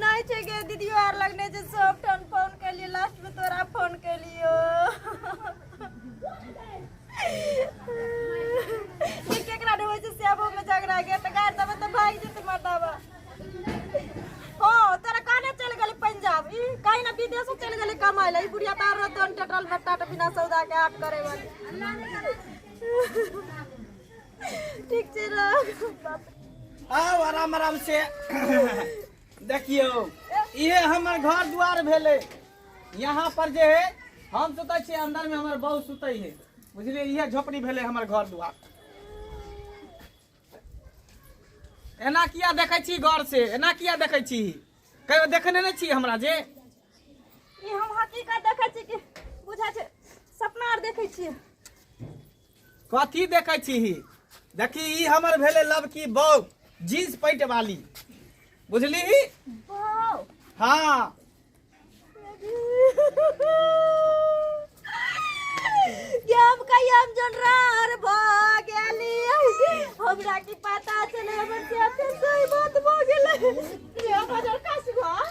नहि छै गे दीदी आर लग नहि छै सब ठाम फोन केलियै लास्ट में तोरा फोन केलियो जे केकरा रे होइ छै से आबो में झगड़ा के तऽ गाड़ देबै तऽ भागि जेतै मर्दावा ओ तोरा काने चल गेलै पंजाब ई कहीं ना विदेशो चल गेलै कमाए ला ई बुढ़िया तार रहतो टटल बट्टा बिना सौदा के आठ करे वाली ठीक छै आउ आराम आराम से देखियो ये हमर घर द्वार भेले यहाँ पर जे है हम सुते छी अंदर में हमर बहु सुते है बुझलिए ये झोपड़ी भेले हमर घर द्वार एना किया देखे छी गौर से एना किया देखे छी कहियो देखने नहीं छी हमरा जे ई हम हकीकत देखे छी कि बुझा छै सपना आर देखे छी कथी देखै छीही देखी ई हमर भेलै लबकी बौ जींस पैंट वाली बुझली हाँ हम कहियो हम जोन रहर भ गेली हमरा की पता चले हमर के सोई बात भ गेलै रे हमर कास घर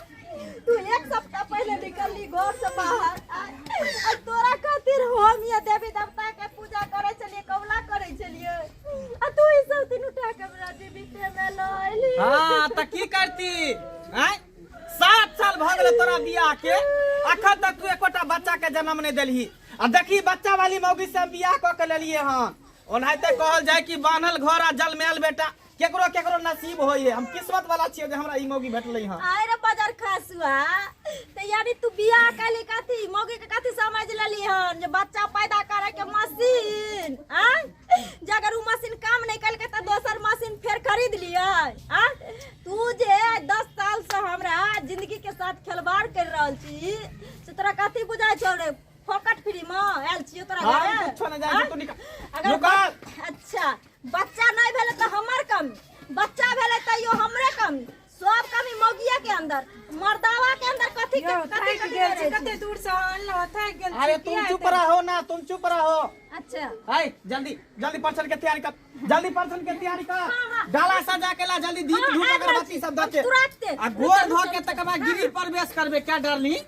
तू एक सप्ताह पहले निकलली घर से बाहर आ आ तोरा खातिर हम ये देवी देवता के पूजा करे छलिए कबला करे छलिए आ तू ई सब दिन उठा के हमरा जीविते में ल अइली हाँ त की करती आय सात साल भ गेलै तोरा बियाह के अखन तक तू एकोटा बच्चा के जन्म नहि देलही आ देखी बच्चा वाली मौगी से हम बियाह कऽ के लेलियै हन ओनाहिते कहल जाय कि बान्हल घर आ जलमैल बेटा केकरो केकरो नसीब होई है हम किस्मत वाला छियै जे हमरा ई मौगी भेटलै हँ आय रे बाजार खसुआ ते यानी तू बियाह कैली कथी मौगी के कथी समझ लेली हन जे बच्चा पैदा करे के मशीन आ जे अगर उ मशीन काम नहीं कैल के त दोसर मशीन फेर खरीद लियै आ तू जे 10 साल से हमरा जिंदगी के साथ खिलवाड़ कर रहल छी से तोरा कथी बुझाय छौ रे फोकट फ्री में आयल छियो तोरा हम घरे कुछो नहि जानै छी, तू निकल। अगर नुका। अच्छा बच्चा नहीं भेले तो हमर कमी बच्चा भेले तो यो हमरे कमी सब कमी मौगिया के अंदर मर्दावा के अंदर कथी के कथी थक गेल छै, कथी कते दूर से अनलो थक गेल छै, अरे तुम किया चुप एते- रहो ना तुम चुप रहो अच्छा हाय जल्दी जल्दी पर्सन के तैयारी कर जल्दी पर्सन के तैयारी हाँ, कर हाँ। डाला सजा के ला जल्दी दीप हाँ, धूप आबि रहल अगरबत्ती छी, सब हम दके तुरंते। आ गोर धो के तकर बाद गिरी प्रवेश करबे क्या डार्लिंग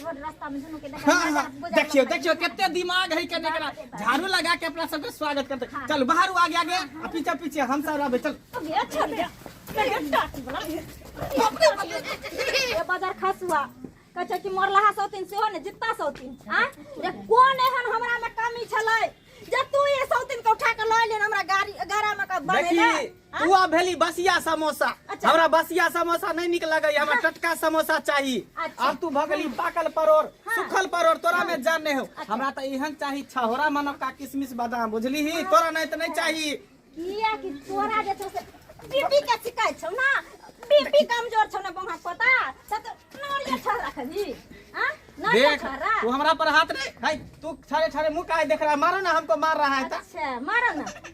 छोट रास्ता में दुनू के देखा हाँ, हाँ, देखियो देखियो कितने दिमाग है कने करा झाड़ू लगा के अपना सबके स्वागत करते हाँ। चल बाहर आगे आगे आ पीछे पीछे हम सब रहबे चल अच्छा दे ये बाजार खास हुआ कहे कि मोर लहा सौतीन से हो ने जितना सौतीन आ जे कौन एहन हमरा में कमी छले जे तू ये सौतीन के उठा के लऽ लेन हमरा गाड़ी गारा में के बनेला देखी तू आब भेली बसिया समोसा अच्छा। हमरा बसिया समोसा नहीं निक लगे हमरा टटका समोसा चाहिए अच्छा। अब तू भगली पाकल परोर हाँ। सुखल परोर तोरा में जान नहीं हो अच्छा। हमरा तो इहन चाहिए छहोरा मानो का किशमिश बादाम बुझली ही हाँ। तोरा नहीं तो नहीं चाहिए किया कि तोरा जे छौ से बीपी के शिकायत छौ ना बीपी कमजोर छौ ना बंगा पता से तो नोरिया छौ रखली हां नोरिया देख छौ रा तू हमरा पर हाथ नहीं है तू छारे छारे मुंह काहे देख रहा है मारो ना हमको मार रहा है ता अच्छा मारो ना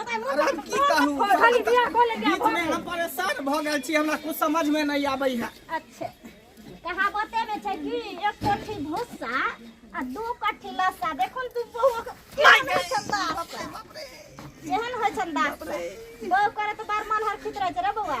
अरे हम की कहू खाली बिया खोले दिया बीच में हम परेशान भऽ गेल छी हमरा कुछ समझ में नहीं आबै है अच्छा कहावते में छै कि एक कोठी भूसा आ दू कोठी लस्सा देखो ने तू बहु केहन होइ छन दाह केहन होइ छन दाह बहु करे तो बार मन हर खित रहे छै रे बौआ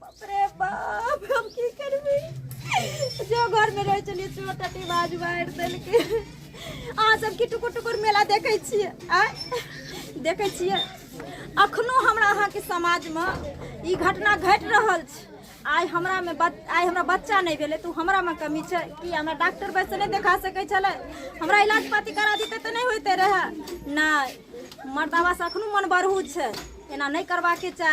बाप रे बाप हम की करबे जो घर में रहे चलिए चोट अटी बाज मार देल के अहाँ सब की टुकुर टुकुर मेला देखे छिए आ देखे छिए अखनो हमरा अहाँ के समाज में ई घटना घट रहल छै आइ हमरा में बच आइ हमरा बच्चा नहीं भेले तो हमरा में कमी छै कि हमरा डॉक्टर बैस नहीं देखा सके छले हमरा इलाज पाती करा दीते तो नहीं होते रहे नहीं मर्दावा से अखनो मन बरहू छै एना नहीं करवा के चाही